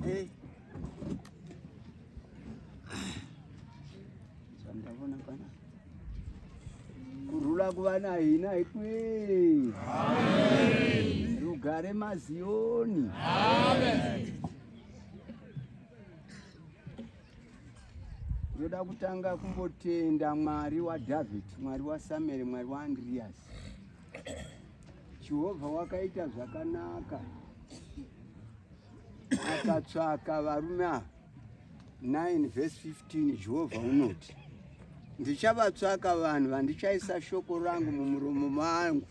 Hey. Sandavona pana. Kurula kuvana hina ikwe. Amen. Rugare mazioni. Amen. Ndoda kutanga kumbotenda Mwari waDavid, Mwari waSamuel, Mwari waAndreas. Jehovha wakaita zvakanaka akatsvaka varume ava 9 vhesi 15 jehovha unoti ndichavatsvaka vanhu vandichaisa shoko rangu mumuromo mangu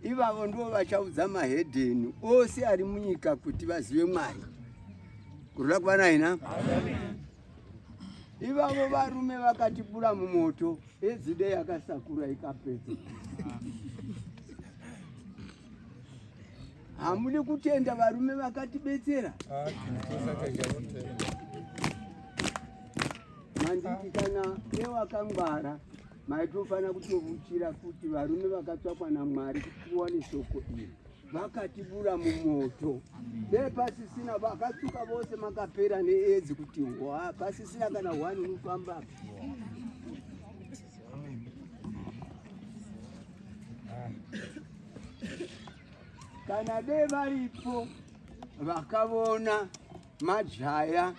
ivavo ndivo vachaudza mahedheni ose ari munyika kuti vazive mwari kurira kuva naina Ivavo varume vakatibura mumoto ezide yakasakura ikapedza. Hamudi kutenda varume vakatibetsera. Manditi kana ewakangwara maitofanira kutovuchira kuti varume vakatsvakwa naMwari kuti tiwane shoko iri. vakatibura mumoto dai pasisina vakatsuka vose makapera needzi kuti hwa pasisina kana hwani unofamba kana dai varipo vakavona majaya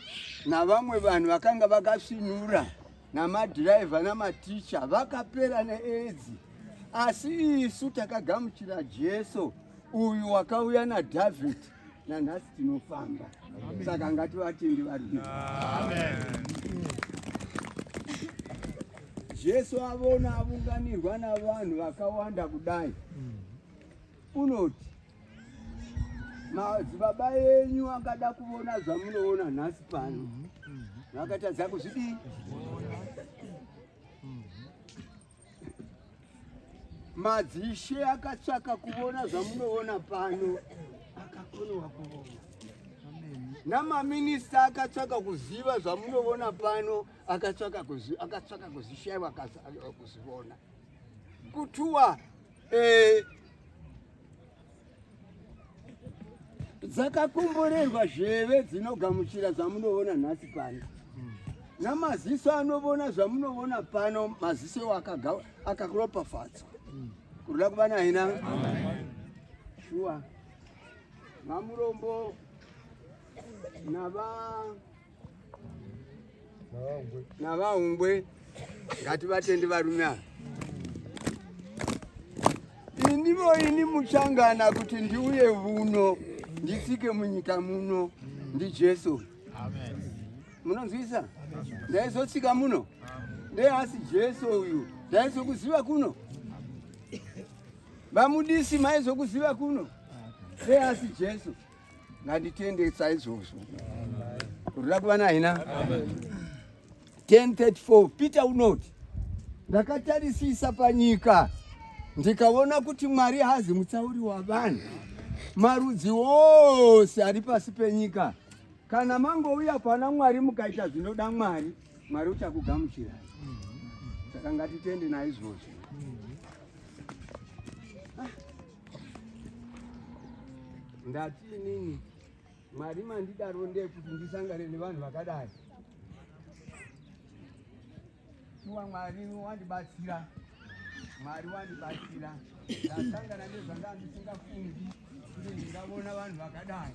navamwe vanhu vakanga vakasvinura namadhiraivha namaticha vakapera needzi asi isu takagamuchira jesu uyu wakauya nadhavhidhi nanhasi tinofamba saka ngativatendi vari jesu avona avunganirwa navanhu vakawanda kudai unoti madzibaba enyu angada kuvona zvamunoona nhasi pano vakatadza kuzvidii madzishe akatsvaka kuvona zvamunoona pano akakonowa kuvona namaminista akatsvaka kuziva zvamunoona pano akatsvaka kuzishaiwa kuzivona kutuwa eh. dzakakomborerwa zveve dzinogamuchira zvamunoona nhasi pano namaziso anovona zvamunovona pano maziso iwo akakuropafadzwa kuruda kuva naina shuwa vamurombo nava navaungwe ngativatendi varume ava inivo ini muchangana kuti ndiuye vuno ndisike munyika muno ndijesu munonzwisa ndaizosika muno ndeasi jesu uyu ndaizokuziva kuno vamudisi maizokuziva kuno ndeasi jesu nganditende saizvozvo ruda kuva naina 1034 peter unoti ndakatarisisa panyika ndikaona kuti mwari hazi mutsauri wavanhu marudzi ose ari pasi penyika kana mangouya kwana mwari mukaita zvinoda mwari mwari uchakugamuchirai saka ngatitende naizvozvo ndati inini mwari mandidaro ndekuti ndisangane nevanhu vakadai shuwa mwari wandibatsira mwari wandibatsira ndasangana nezvanga ndisingafungi kuti ndingavona vanhu vakadai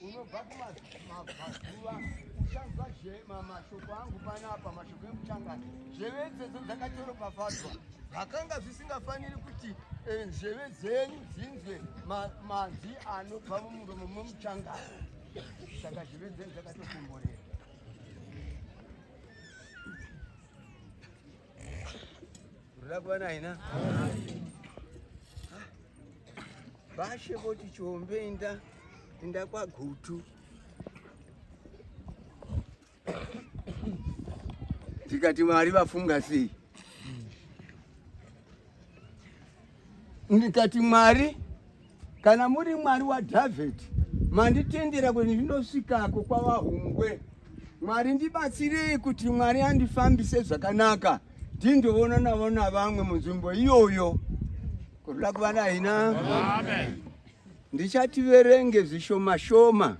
unobva kumazuva uchanzwa mashoko angu panapa mashoko emuchangani zheve dzedzo dzakatoropafadzwa zvakanga zvisingafaniri kuti eh, zheve dzenyu dzinzwe manzwi anobva mumuromo momuchangani saka zheve dzenyu dzakatokomborera Ruda kuva naye na? Bashe voti chombe inda inda kwagutu. Tikati Mwari vafunga sei? Ndikati Mwari Kana muri Mwari waDavid, manditendera kuti ndinosvikako kwavahungwe. Mwari ndibatsirei kuti Mwari andifambise zvakanaka ndindoona navo navamwe munzvimbo iyoyo. Kurula kuva nahina. Amen ndichativerenge zvishoma shoma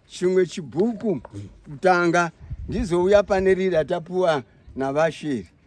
chimwe chibhuku kutanga ndizouya pane riri atapuwa navashiri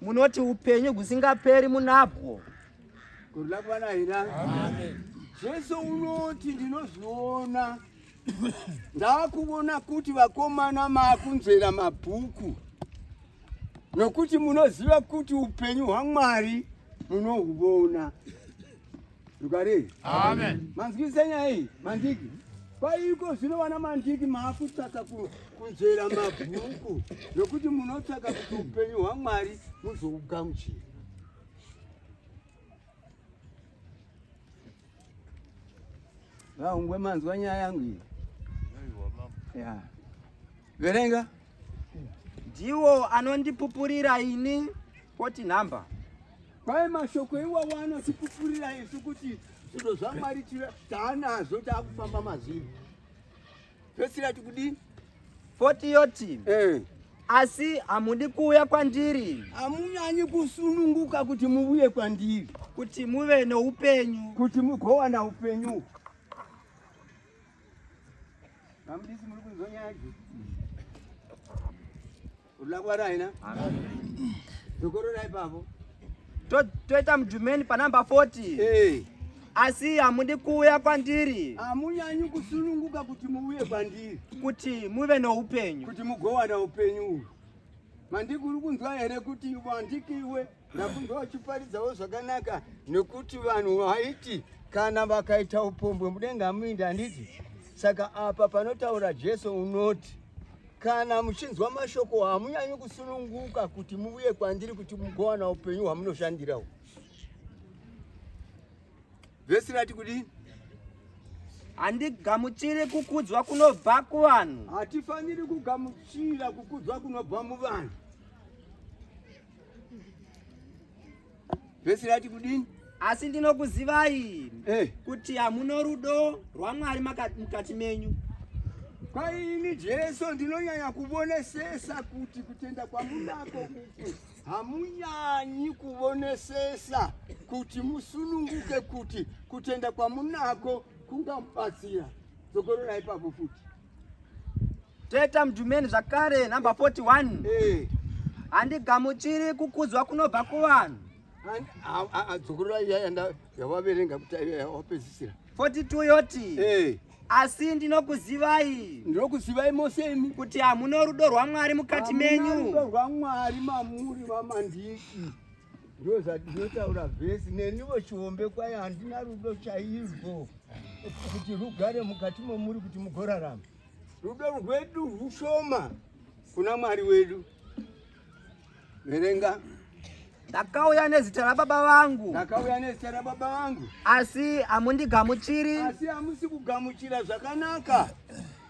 munoti upenyu husingaperi munabwo kurula kwana hira jesu unoti ndinozviona ndakuvona kuti vakomana makunzvera mabhuku nokuti munoziva kuti upenyu hwamwari munohuvona Rugare. Amen. Manzwisa nyaya iyi, mandiki. Paiko zvino vana mandiki maakutsvaka kunzvera mabhuku nokuti munotsvaka kuti upenyu hwaMwari muzougamuchira. Vaungwe manzwa nyaya yangu iyi. Yeah. Verenga. Ndiwo anondipupurira ini poti nhamba. Kwaye mashoko iwawo anotipupurira isu kuti zvinhu zvaMwari taanazvo taakufamba mazviri. Pesira tikudini? Poti yoti. Eh. Asi hamudi kuuya kwandiri. Hamunyanyi kusununguka kuti muvuye kwandiri. Kuti muve noupenyu. Kuti mugowana upenyu. Vamudisi muri kunzwa nyaya idzi? Unoda kuvara haina? Dokororai pavo. Toita mudhumeni panamba 40. Hey. asi hamudi kuuya kwandiri hamunyanyi kusununguka kuti muuye kwandiri kuti muve noupenyu kuti mugowana upenyu uhwu mandikuri kunzwa here kuti wandikiwe Ndakunge wachiparidzawo zvakanaka nekuti vanhu vaiti kana vakaita upombwe mudenga hamuindi handiti? Saka apa panotaura Jesu unoti kana muchinzwa mashoko hamunyanyi kusununguka kuti muvuye kwandiri kuti mugowana upenyu hwamunoshandirawo. Vhesi rati kudini? handigamuchiri kukudzwa kunobva kuvanhu hatifaniri kugamuchira kukudzwa kunobva muvanhu Vhesi rati kudini? Asi ndinokuzivai hey, eh. kuti hamuno rudo rwaMwari mukati menyu. Kwaini Jesu ndinonyanya kuvonesesa kuti kutenda kwamunako uku hamunyanyi kuvonesesa kuti musununguke kuti kutenda kwamunako kungamubatsira. Dzokororai ipapo futi. Teta Mjumeni zvakare number 41. Eh. Handigamuchiri kukudzwa kunobva kuvanhu. Dzokorora iya yavaverenga kuti yawapedzisira. 42 yoti. Eh. Asi ndinokuzivai. Ndinokuzivai mose imi. Kuti hamuna rudo rwaMwari mukati menyu. Hamuna rudo rwaMwari mamuri vamandiki. Ndoo zvandinotaura vhesi nenivo chiombe kwaye handina rudo chaizvo kuti rugare mukati momuri kuti mugorarama. Rudo rwedu rwushoma kuna Mwari wedu. Verenga. Ndakauya nezita rababa vangu. Ndakauya nezita rababa vangu. Asi hamundigamuchiri. Asi hamusi kugamuchira zvakanaka.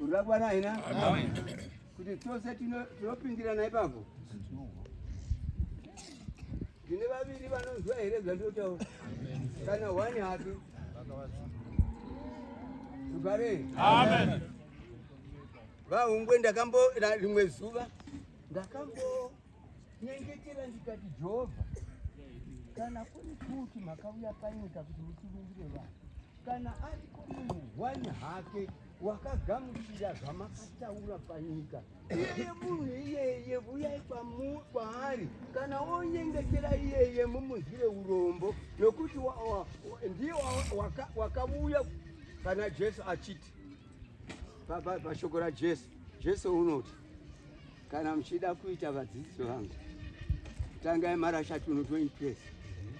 Urabwana haina kuti tose tinopindirana ipapo. Tine vaviri vanonzwa here zvandotaura kana wani hake tugare vahungwe ndakambo rimwe zuva ndakambo nyengetera ndikati jehovha kana kuri kuti makauya panyika kuti mutirungire vanhu kana ariko munhu hwani hake wakagamuchira zvamakataura panyika iyeye munhu iyeye vuyai kwaari kana wonyengetera iyeye mumunzwire urombo nokuti ndiye wakavuya kana jesu achiti pashoko rajesu jesu unoti kana muchida kuita vadzidzisi vangu tangai marasha tuno 20 pesi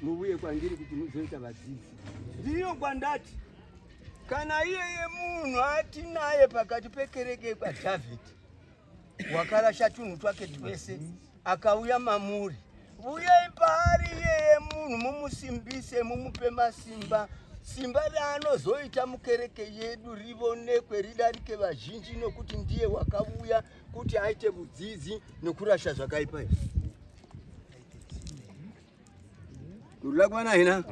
muvuye kwandiri kuti muzoita vadzidzisi ndiyo kwandati kana iyeye munhu atinaye pakati pekereke kwadhavhidhi wakarasha tunhu twake twese akauya mamuri vuyei paari iyeye munhu mumusimbise mumupe masimba simba raanozoita mukereke yedu rivonekwe ridarike vazhinji nokuti ndiye wakavuya kuti aite vudzidzi nokurasha zvakaipa izvi Tulakwana hina.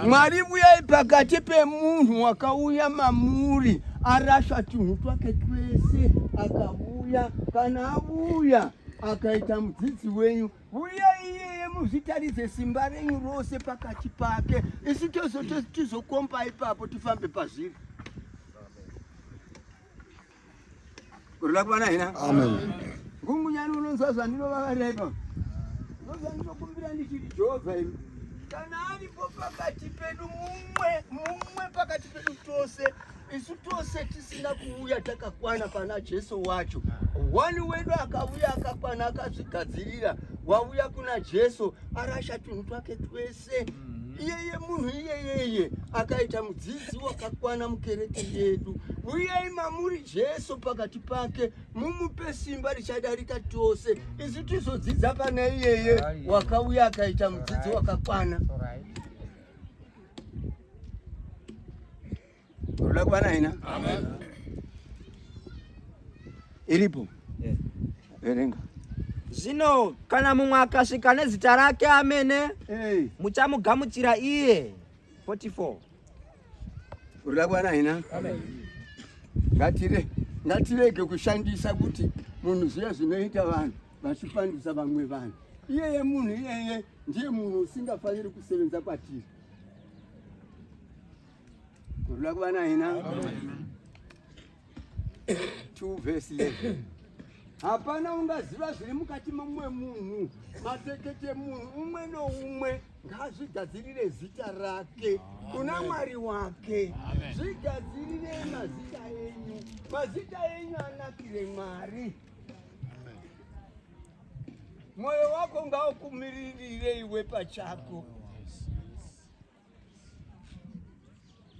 Mwari vuyai pakati pemunhu wakauya mamuri arasha tunhu twake twese akavuya kana avuya akaita mudzidzi wenyu vuyai iyeye muzvitaridze simba renyu rose pakati pake isu tozotizokomba ipapo tifambe pazviri Kurula kwana hina. Amen. Gungu nyani unonzwa zvandinovavara ipa. Ndozvandinokumbira ndichiti Jehovha imi. Kana aripo pakati pedu mumwe mumwe pakati pedu tose isu tose tisina kuuya takakwana pana Jesu wacho. Wani wedu akavuya akakwana akazvigadzirira wauya kuna Jesu arasha tunhu twake twese. zvese mm-hmm. iyeye munhu iyeyeye akaita mudzidzi wakakwana mukereke yedu uyai mamuri jesu pakati pake mumupe simba richadarika tose isu tizodzidza pane iyeye wakauya akaita mudzidzi wakakwana Ruda kuva naye na? Amen. Iripo. Yes. Verenga. Zvino kana mumwe akasvika nezita rake amene hey. muchamugamuchira iye 44 urira kwana hina ngatire ngatirege kushandisa kuti munhu zviya zvinoita vanhu vachipandisa vamwe vanhu iyeye munhu iyeye ndiye munhu usingafaniri kusevenza kwatiri hapana ungaziva zviri mukati momumwe munhu matekete munhu umwe noumwe ngazvigadzirire zita rake kuna mwari wake zvigadzirire mazita enyu mazita enyu anakire mwari mwoyo wako ngaukumiririre iwe pachako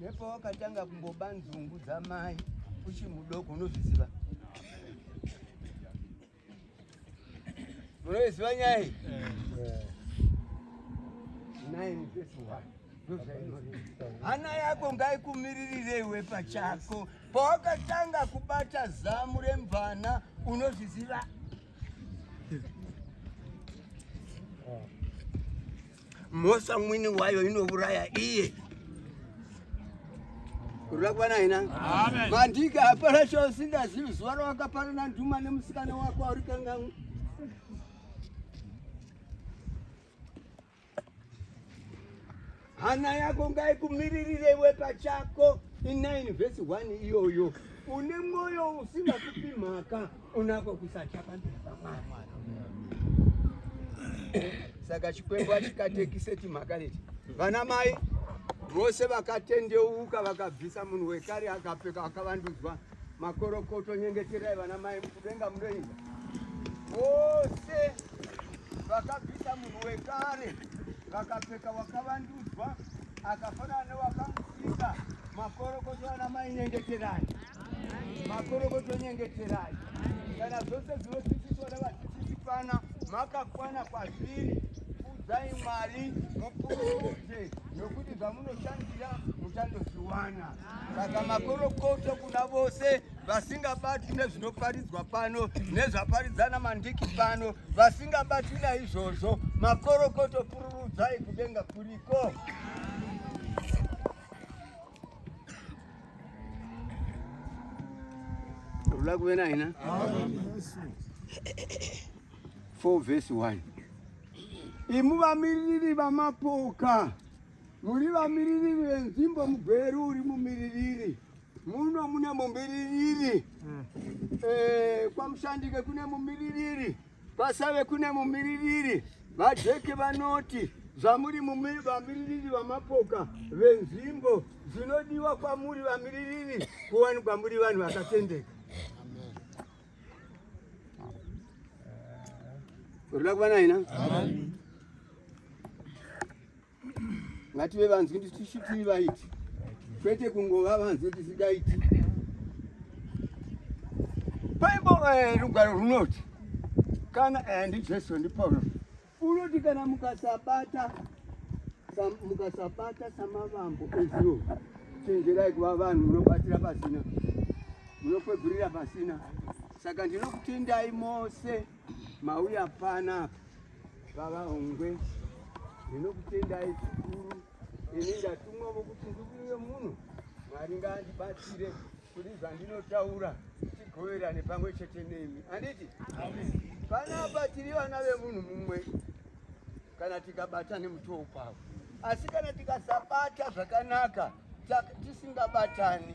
nepawakatanga kumboba nzungu dzamai uchi mudoko unozviziva unoiziva nyaya iyi hana yako ngaikumiririre iwe pachako pawakatanga kubata zamu remvana unozviziva Mhosva mwini wayo inouraya iye. Urakwana ina. Amen. Mandika hapana chausingazivi zuva rawakaparana nduma nemusikana wako auri kangangu. Hana yako ngaikumiririre iwe pachako. In 9 verse 1 iyoyo. Une mwoyo usingatupi mhaka. unako kusatya pamberi pamwari saka chikwembo achikatekise timhaka leti vana mai vose vakatendeuka vakabvisa munhu wekare akapfeka akavandudzwa makorokoto nyengeterai vana mai mukudenga munoinda vose vakabvisa munhu wekare vakapfeka wakavandudzwa akafanana newakamusika makorokoto vana mai nyengeterai makorokoto nyengeterai kana zvose zvinosisiswa navasisisikana makakwana kwazviri kudzai mwari mupuruze nokuti zvamunoshandira muchandozviwana saka makorokoto kuna vose vasingabatwi nezvinoparidzwa pano nezvaparidzana mandiki pano vasingabatwi naizvozvo makorokoto pururudzai kudenga kuriko Rula kuve na hina 4 verse 1 imu vamiririri vamapoka muri vamiririri venzimbo mugweru uri mumiririri muno mune mumiririri hmm. eh, kwamushandike kune mumiririri mm. Pasave kune mumiririri, VaJeke vanoti zvamuri vamiririri vamapoka venzvimbo zvinodiwa kwamuri vamiririri kuwanikwa muri vanhu vakatendeka. Ruda kuva naina. ngative vanzwi tisu tiri vaiti kwete kungova vanzwi tisidaiti paimbo eh, rugwaro runoti kana eh, ndijesu ndipaulo unoti kana mukasabata mukasabata samavambo ezuro chenjerai kuva vanhu munobatira pasina munokwegurira pasina saka ndinokutendai mose mauya panapa Baba Hongwe, ndinokutendai zvikuru. Ini ndatumwa vokuti ndikuuye muno, Mwari ngaandibatsire kuti zvandinotaura tigoverane pamwe chete nemi. Handiti? Panapa tiri vana vemunhu mumwe kana tikabata nemutoo kwavo, asi kana tikasabata zvakanaka tisingabatani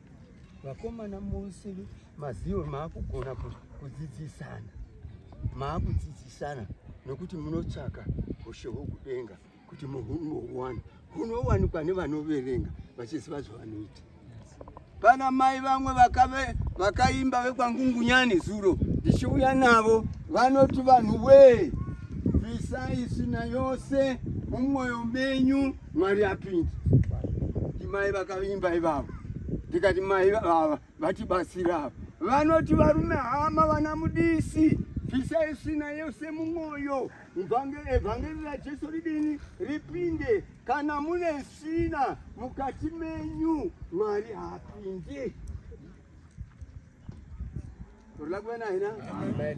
Vakomana mose maziwo maakugona kudzidzisana, maakudzidzisana nokuti munotsvaka hushe hwokudenga kuti muhunowana hunowanikwa nevanoverenga vachiziva zvavanoita. Pana mai vamwe vakave vakaimba vekwangungunyani zuro ndichiuya navo vanoti vanhu wee bvisai isina yose mumwoyo menyu Mwari apinda ndimai vakavimba ivavo ndikati mai vava vatibatsira ava vanoti varume hama vana mudisi bvisa isina yose mumwoyo evhangeri rajesu ridini ripinde kana mune isina mukati menyu mwari haapinde Por la buena, ¿no? Amén.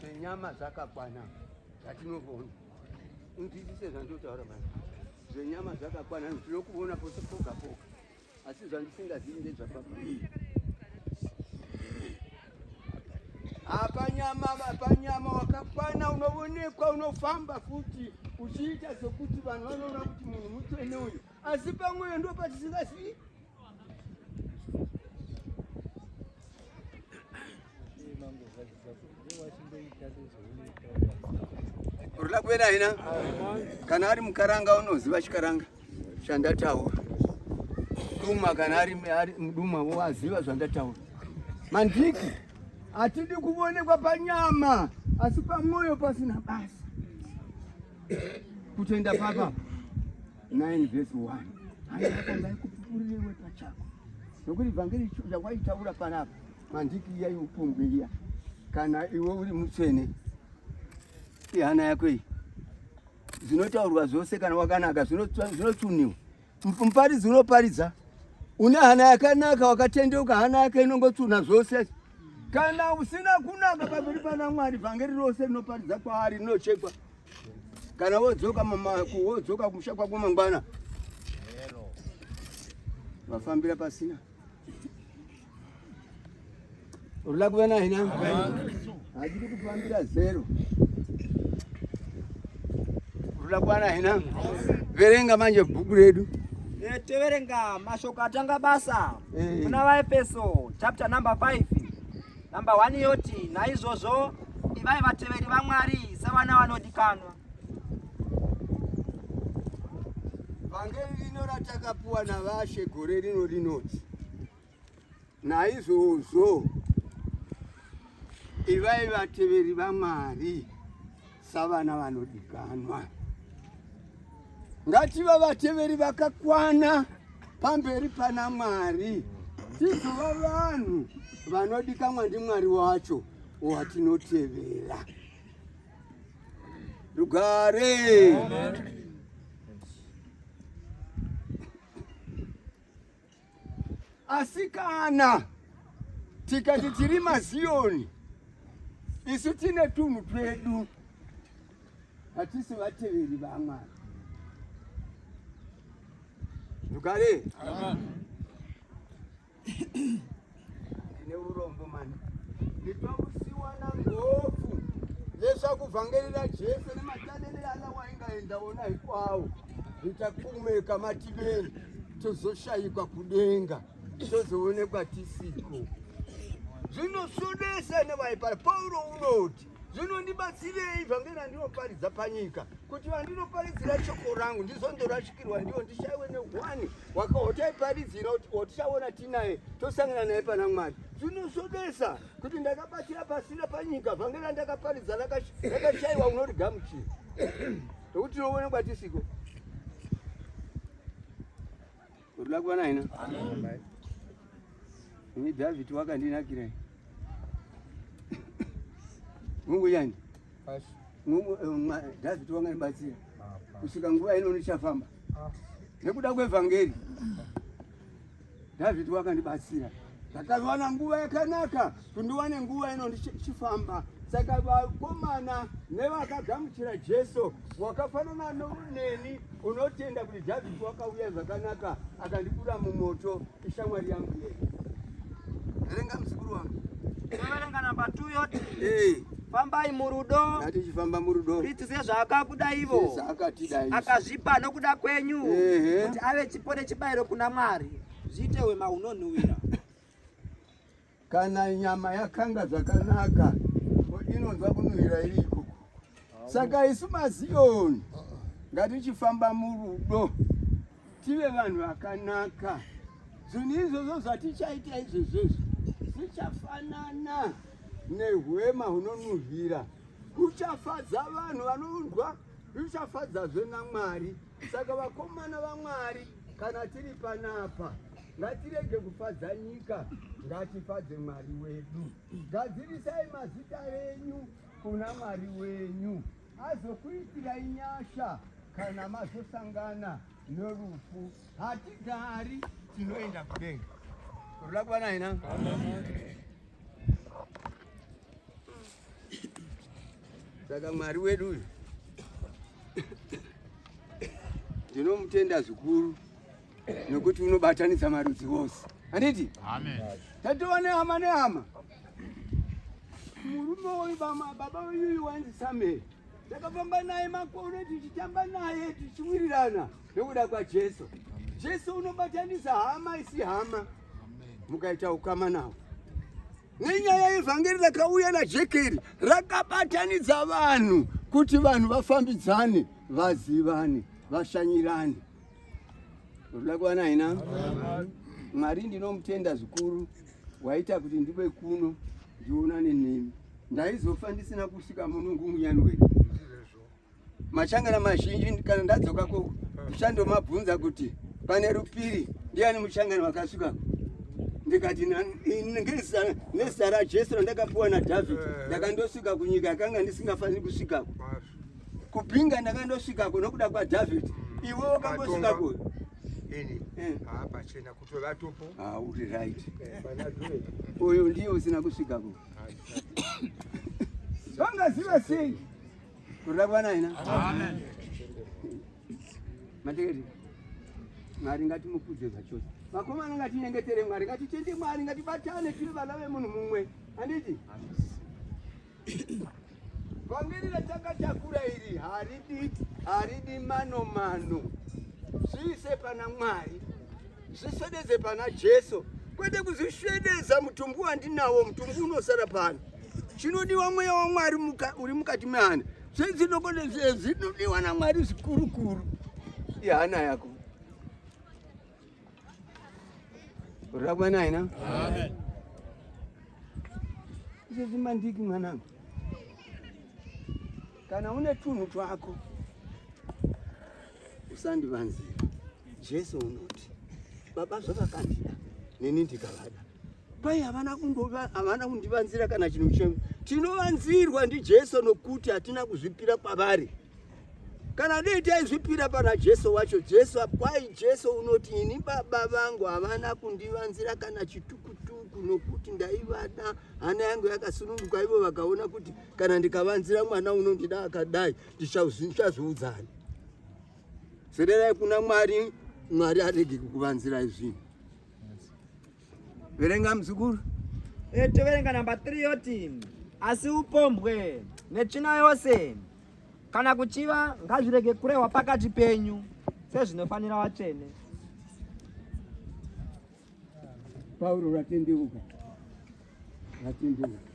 Senyama dzakakwana dzatinovona unzwisise zvandotaura mani zvenyama dzakakwana ndinokuona pose poga poga asi zvandisingazivi ndezvapapii apanyama apanyama wakakwana unovonekwa unofamba futi uchiita sekuti vanhu vanoona kuti munhu mutsvene uyu asi pamweyo ndo patisingazivi rula kuenda hina kana ari mukaranga unoziva chikaranga chandataura duma kana ari mduma waziva zvandataura mandiki hatidi kuvonekwa panyama asi pamwoyo pasina basa kutenda papa 9 verse 1 haiaka ndaikupupurirewe pachako nokuti vhangeri yawaitaura panapa mandiki iya iupungwe iya kana iwe uri mutsvene ihana yako iyi zvinotaurwa zvose kana wakanaka zvinotuniwa muparidzi unoparidza une hana yakanaka wakatendeuka hana yake inongotuna zvose Kana usina kunaka pamberi pana Mwari, vhangeri rose rinoparidza kwaari rinochekwa. Kana wodzoka wodzoka kumusha kwako mangwana, vafambira pasina urula kuva naye na hadiri kufambira zero urula kuva naye na verenga manje bhuku redu teverenga mashoko atanga basa kuna vaefeso chapter number 5 number 1 yoti naizvozvo ivai vateveri vamwari sevana vanodikanwa vhangeri rino ratakapuwa navashe gore rino rinoti naizvozvo ivai vateveri vamwari savana vanodikanwa ngativa vateveri vakakwana pamberi pana Mwari tizova vanhu vanodikanwa ndiMwari wacho watinotevera. Rugare Amen. Asi kana tikati tiri maziyoni isu tine tunhu twedu hatisi vateveri vamwari dukare ndine urombo mani nditwakusiwa na ngopfu leswaku vhangeri ra jesu ni matanele ala wa inga enda wona hinkwawo hi ta kumeka mativeni tozoshayikwa kudenga tozoonekwa tisiko zvinosudisa nevaipara pauro unoti Zvino ndibatsirei vhangeri randinoparidza panyika, kuti vandinoparidzira shoko rangu ndizondorashikirwa ndiwo, ndishaiwe nehwani wakaotaiparidzira kuti otichaona tinaye tosangana naye pana Mwari. Zvinosodesa kuti ndakabatsira pasina panyika, vhangeri randakaparidza rakashaiwa unorigamuchira, nokuti tinoonekwa tisiko Urikuda kuva naina? Amen. Ini David wakandinakira. Mungu yani. Basi. Mungu eh, David wanganibatsira. Kusvika nguva ino ndichafamba. Ah. Nekuda kwevhangeri. David wakandibatsira. Ndakawana nguva yakanaka. kundiwane nguva ino ndichifamba saka vakomana nevakagamuchira jesu wakafanana neni unotenda kuti dhavhidhi wakauya zvakanaka akandikura mumoto ishamwari yangu yei verenga muzukuru wangu verenga namba 2 yoti hey. fambai murudo ngatichifamba murudo kristu sezvaakakuda ivo akazvipa nokuda kwenyu kuti ave chipo nechibayiro kuna mwari zviite wema unonhuwira kana nyama yakanga zvakanaka inonzwa kunhuhwira iri ikoko saka isu maziyoni ngatichifamba murudo tive vanhu vakanaka zvinhu izvozvo zvatichaita izvezvezvo zvichafanana nehwema hunonhuhwira kuchafadza vanhu vanonzwa zvichafadzazve namwari Saka vakomana vaMwari, kana tiri panapa ngatirege kufadza nyika, ngatifadze Mwari wedu. Gadzirisai mazita enyu kuna Mwari wenyu, azokuitirai nyasha kana mazosangana norufu. Hatigari, tinoenda kudenga. Ruda kuva naina. Saka Mwari wedu uyu ndinomutenda zvikuru nokuti unobatanidza marudzi wose handiti tatova nehama nehama murume uyu baba uyuyu wanzi samuel takafamba naye makore tichitamba naye tichiwirirana nekuda kwajesu jesu unobatanisa hama isi hama mukaita ukama nawo Nenyaya yevhangeri rakauya najekeri rakabatanidza vanhu kuti vanhu vafambidzane, vazivane, vashanyirane. Unoda kuwana haina? Mwari ndinomutenda zvikuru waita kuti ndive kuno ndionane nemi. Ndaizofa ndisina kusvika muno ngumunyani wenyu. machangana mazhinji kana ndadzoka ko ndichandomabvunza kuti pane rupiri ndiani muchangana wakasvika ndikati nezita rajesu randakapiwa nadhavhidhi eh. ndakandosvika kunyika yakanga ndisingafaniri kusvikako kupinga ndakandosvikako nokuda kwadhavhidhi hmm. iwe wakambosvikako ini eh. ah, pachena kuti vatopo ah, uri right eh, uyu ndiye usina kusvikako vangaziva sei Kurida kuva naye na. Amen. Mategeti. Mwari ngatimukudze zvachose. Vakomana ngatinyengetere Mwari, ngatitende Mwari, ngatibatane tiri vana vemunhu mumwe. Handiti? Vhangeri ratakatakura iri haridi haridi mano mano. Zviise pana Mwari. Zvisvedeze pana Jesu kwete kuzvisvedeza mutumbu wandinawo mutumbu unosara pano chinodiwa mweya wamwari muka, uri mukati mehana zvedzinoko zvinodiwa namwari zvikurukuru ihana yako rakwa naina izvezvi mandiki mwanangu kana une tunhu twako usandivanzira jesu unoti baba zvavakandida neni ndikavada pai havana kumbova havana kundivanzira kana chinhu chimwe tinovanzirwa ndijesu nokuti hatina kuzvipira kwavari kana dei taizvipira pana jesu wacho jesu kwai jesu unoti ini baba vangu havana kundivanzira kana chitukutuku nokuti ndaivada hana yangu yakasununguka ivo vakaona kuti kana ndikavanzira mwana unondida akadai tichazviudzani sererai kuna mwari mwari arege kukuvanzirai zvinhu verenga muzukuru e, toverenga namba 3 yoti asi upombwe netsvina yose kana kuchiva ngazvirege kurehwa pakati penyu sezvinofanira vatsvene Pauro vatendeuka, vatendeuka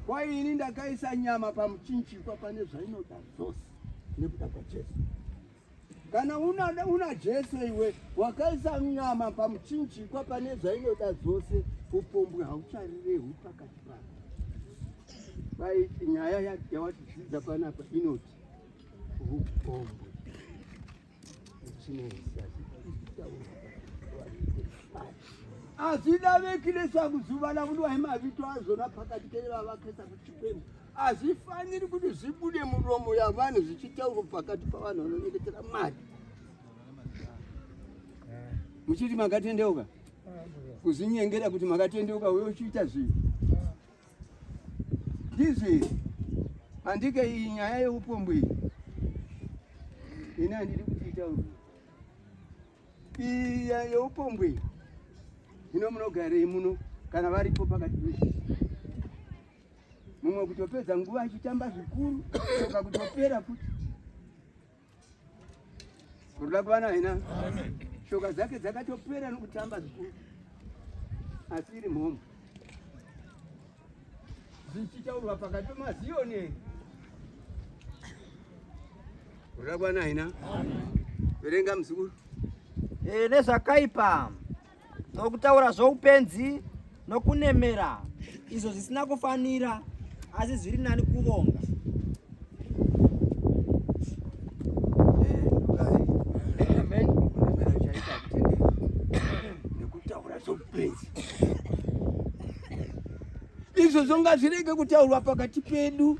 kwai ini ndakaisa nyama pamuchinjikwa pane zvainoda zvose nekuda kwajesu kana una, una jesu iwe wakaisa nyama pamuchinjikwa pane zvainoda zvose upombwe haucharirehu pakati pako kwai nyaya yawatidzidza panapa inoti upombwe asi davekile sakuzuva lakudiwa imavito azvona pakati kevavakesa kuchipemu hazvifaniri kuti zvibude muromo yavanhu zvichitaurwa pakati pavanhu vanonyengetera mari muchiti makatendeuka kuzvinyengera kuti makatendeuka uye uchiita zvinhu ndizvi handike iyi nyaya yeupombwe iyi ini handidi kuti itaurwe iyi yeupombwe ino munogarei muno kana varipo pakati pezvi mumwe kutopedza nguva achitamba zvikuru soka kutopera futi Kurula kwana hina. Shoka dzake dzakatopera nokutamba zvikuru. Asi iri mhomho. Zvichitaurwa pakati pemaziyoni. Kurula kwana hina. Verenga muzukuru. Eh, nezvakaipa. nokutaura zvoupenzi nokunemera izvo zvisina kufanira asi zviri nani kuvonga izvo zvonga zvirege kutaurwa pakati pedu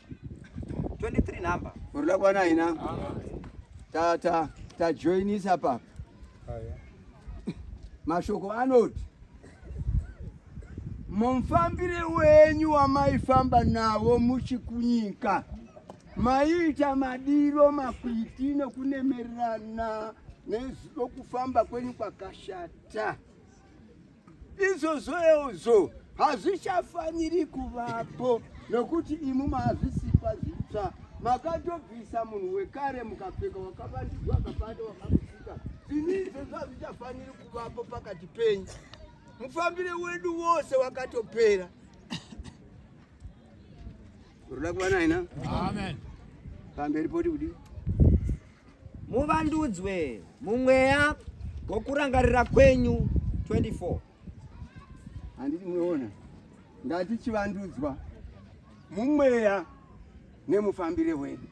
23 number. Urula bwana ina. Ta ta ta join is hapa. Haya. Mashoko anoti mumfambire wenyu wamaifamba navo muchikunyika maiita madiro makwiti nokunemererana nezvo kufamba kwenyu kwakashata. izvozvoeozvo hazvichafaniri kuvapo nokuti imu maazvisipa zvitsva makatobvisa munhu wekare mukapfeka wakavandidzwa akapanda wakamusika zvino izvozvo hazvichafaniri kuvapo pakati penyu mufambire wedu wose wakatopera uroda kuva naina pamberi poti kudii Muvandudzwe mumweya gokurangarira kwenyu 24. Handiti munoona? Ngati chivandudzwa mumweya nemufambire wedu.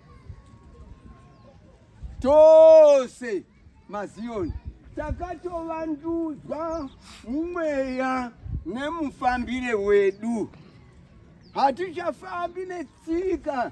Tose mazioni takatovandudzwa mumweya nemufambire wedu. Hatichafambi netsika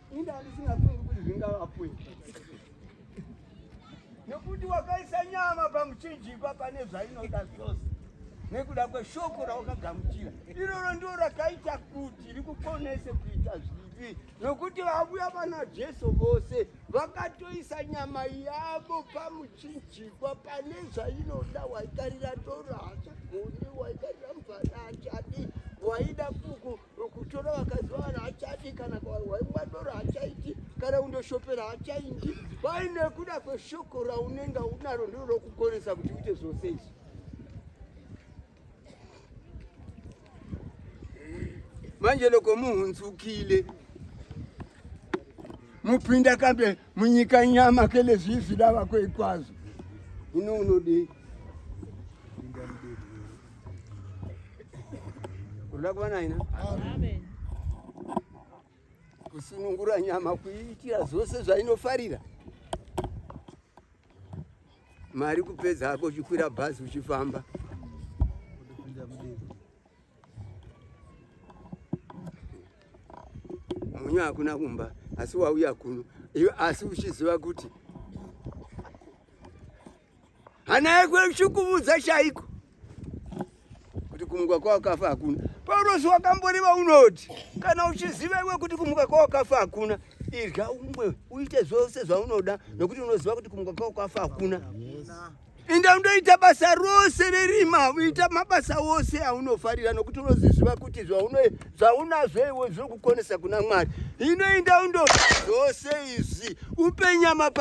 Inda andisingafungi kuti zvingavapwe nekuti wakaisa nyama pamuchinjikwa pane zvainoda zvose nekuda kweshoko rawakagamuchira iroro ndiro rakaita kuti rikukonese kuita zvivi nokuti vavuya vana jesu vose vakatoisa nyama yavo pamuchinjikwa pane zvainoda waikarira toro hachagoni waikarira mvana hachadi waida kuku kutora vakadzi vavanhu hachadi kana kwavarwa mwadoro hachaiti kana undoshopera hachaiti kwai nekuda kweshoko raunenge unaro ndiro rokukonesa kuti uite zvose izvi manje loko muhunzukile mupinda kambe munyika nyama kelezvivi dava kwekwazvo ino unodei unoda kuva naina kusunungura nyama kuiitira zvose zvainofarira mari kupedza hako uchikwira bhazi uchifamba Munyu hakuna kumba asi wauya kuno iwe asi uchiziva kuti hana yako ichikuvudza chaiko kuti kumuka kwawakafa hakuna paurosi wakamboreva unoti kana uchiziva iwe kuti kumuka kwawakafa hakuna irya umwe uite zvose zvaunoda nokuti unoziva kuti kumuka kwawakafa hakuna Inda undoita basa rose rerima, uita mabasa ose aunofarira nokuti unoziziva kuti zvauno zvaunazvo iwe zviri kukonesa kuna Mwari. Inoinda undo zvose izvi upe nyama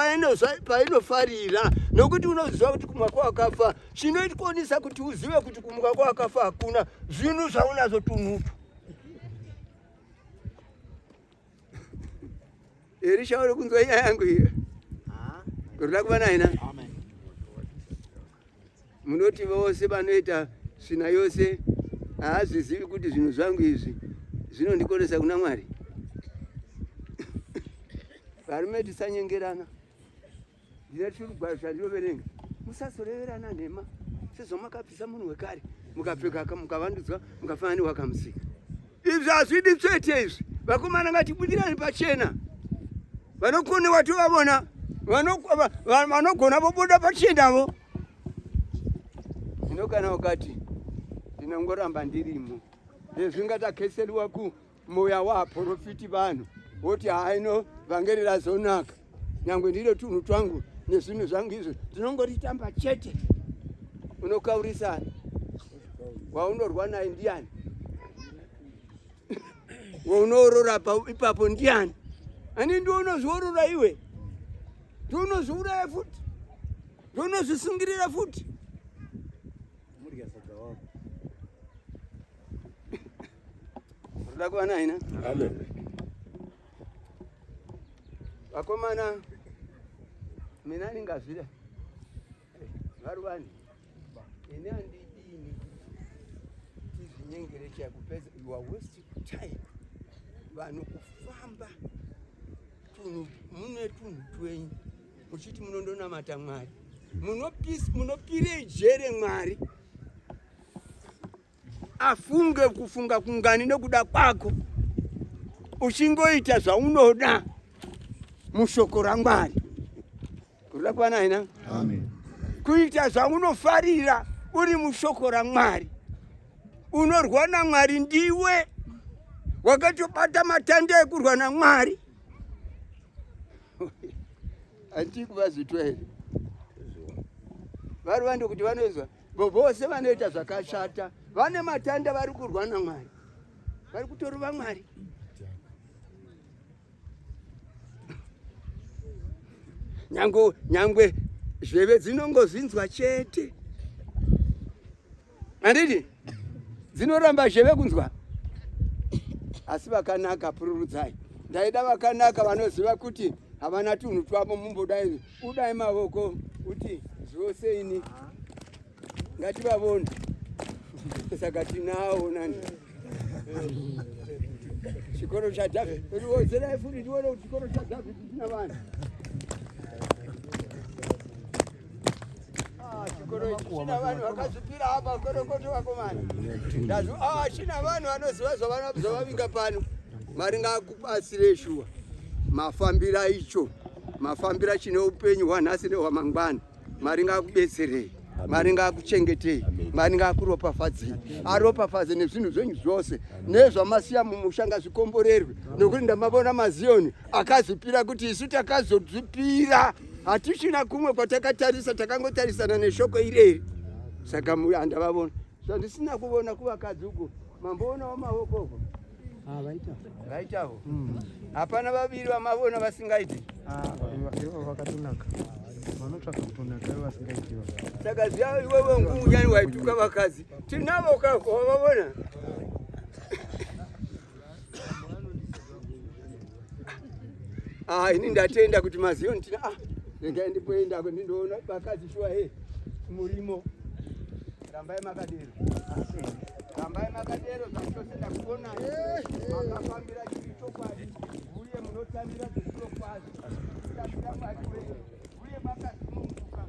painofarira nokuti unoziva kuti kumwa kwawakafa chinoikonisa kuti uzive kuti kumwa kwawakafa hakuna zvinhu zvaunazvo tunhutu Elisha uri kunzwa nyaya yangu iyo kuda kuva naina munoti vose vanoita svina yose haazvizivi kuti zvinhu zvangu izvi zvinondikonesa kuna mwari varume tisanyengerana Ndine chirugwaro chandinoverenga. Musazoreverana nhema sezvo makabvisa munhu wekare mukapfeka mukavandudzwa mukafanana newakamusika. Izvi hazvidi tsvete izvi. Vakomana ngatibudirani pachena. Vanokone watovavona vanogona vobuda pachendavo zvino kana ukati ndinongoramba ndirimo ezvingatakheseliwa ku Moya waaporofiti vanhu woti haino vhangeri razonaka nyangwe ndiro tunhu twangu nezvinhu zvangu izvo tinongoritamba chete unokaurisa waunorwa naye ndiani waunoorora ipapo ndiani ani ndi unozviorora iwe ndi unozviuraya futi ndi unozvisungirira futi Ruda kuva naina. Amen. Vakomana mina ndingazvida vari vanhu ini handidini tizvinyengere chakupedza you are wasting time vanhu kufamba tunhu mune tunhu twenyu muchiti munondonamata mwari munopirei jere mwari afunge kufunga kungani nekuda kwako uchingoita zvaunoda mushoko ramwari kurira kwana hina kuita zvaunofarira uri mushoko ramwari unorwa namwari ndiwe wakatobata matanda ekurwa namwari andii kuvazitwa here vari vande kuti vanoizwa Vose vanoita zvakashata vane matanda vari kurwa naMwari. Vari kutorova Mwari. Nyangwe nyangwe zveve dzinongozvinzwa chete. Andidi dzinoramba zveve kunzwa. Asi vakanaka pururudzai. Ndaida vakanaka vanoziva kuti havana tunhu twavo mumbodai Budai mavoko kuti zvose ini ngativavone saka tinawo nani chikoro chadhavhidi riwodzerai futi ndione kuti chikoro chadhavhidi china vanhu china vanhu vakazvipira apa kwerokoto vakomana china vanhu vanoziva zvavavinga pano mari ngakupasire shuwa mafambira icho mafambira chine upenyu hwanhasi nehwamangwana mari ngakubetserei mari ngakuchengetei mari ngakuropafadzei aropafadze nezvinhu zvenyu zvose nezvamasiya mumusha ngazvikomborerwe nokuti ndamavona maziyoni akazvipira kuti isu takazozvipira Hatichina kumwe kwatakatarisa takangotarisana neshoko ireri saka andavavona zvandisina kuvona kuvakadzi uko mamboonawo maoko uko ah, vaitavo hmm. hapana vaviri vamavona vasingaiti ah, vakatonaka vanotsvaka kutonaka vasingaiti saka zviya iwewe ngunyani waituka vakadzi tinavo kavavona Ah, ini ndatenda kuti maziyo nditina ah, regai ndipoenda ndindoona vakadzi shuwa he murimo rambai makadero rambai makadero zvachose ndakuona makafambira chiri chokwadi uye munotambira zvechirokwadi tambira mwari wenyu uye makasununguka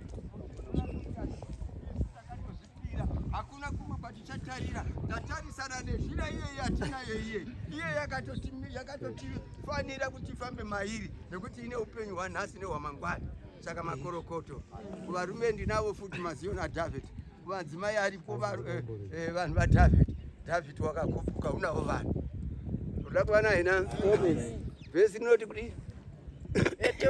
hakuna kumwe kwatichatarira tatarisana nezvira iye yatinayo iye iye yakatotifanira kuti tifambe mairi nekuti ine upenyu hwanhasi nehwamangwana saka makorokoto kuvarume ndinavo futi maziona david kuvadzimai aripo eh, eh, vanhu vadavid david wakakupuka unavo vanhu uda kuvana hina vhesi rinoti kudii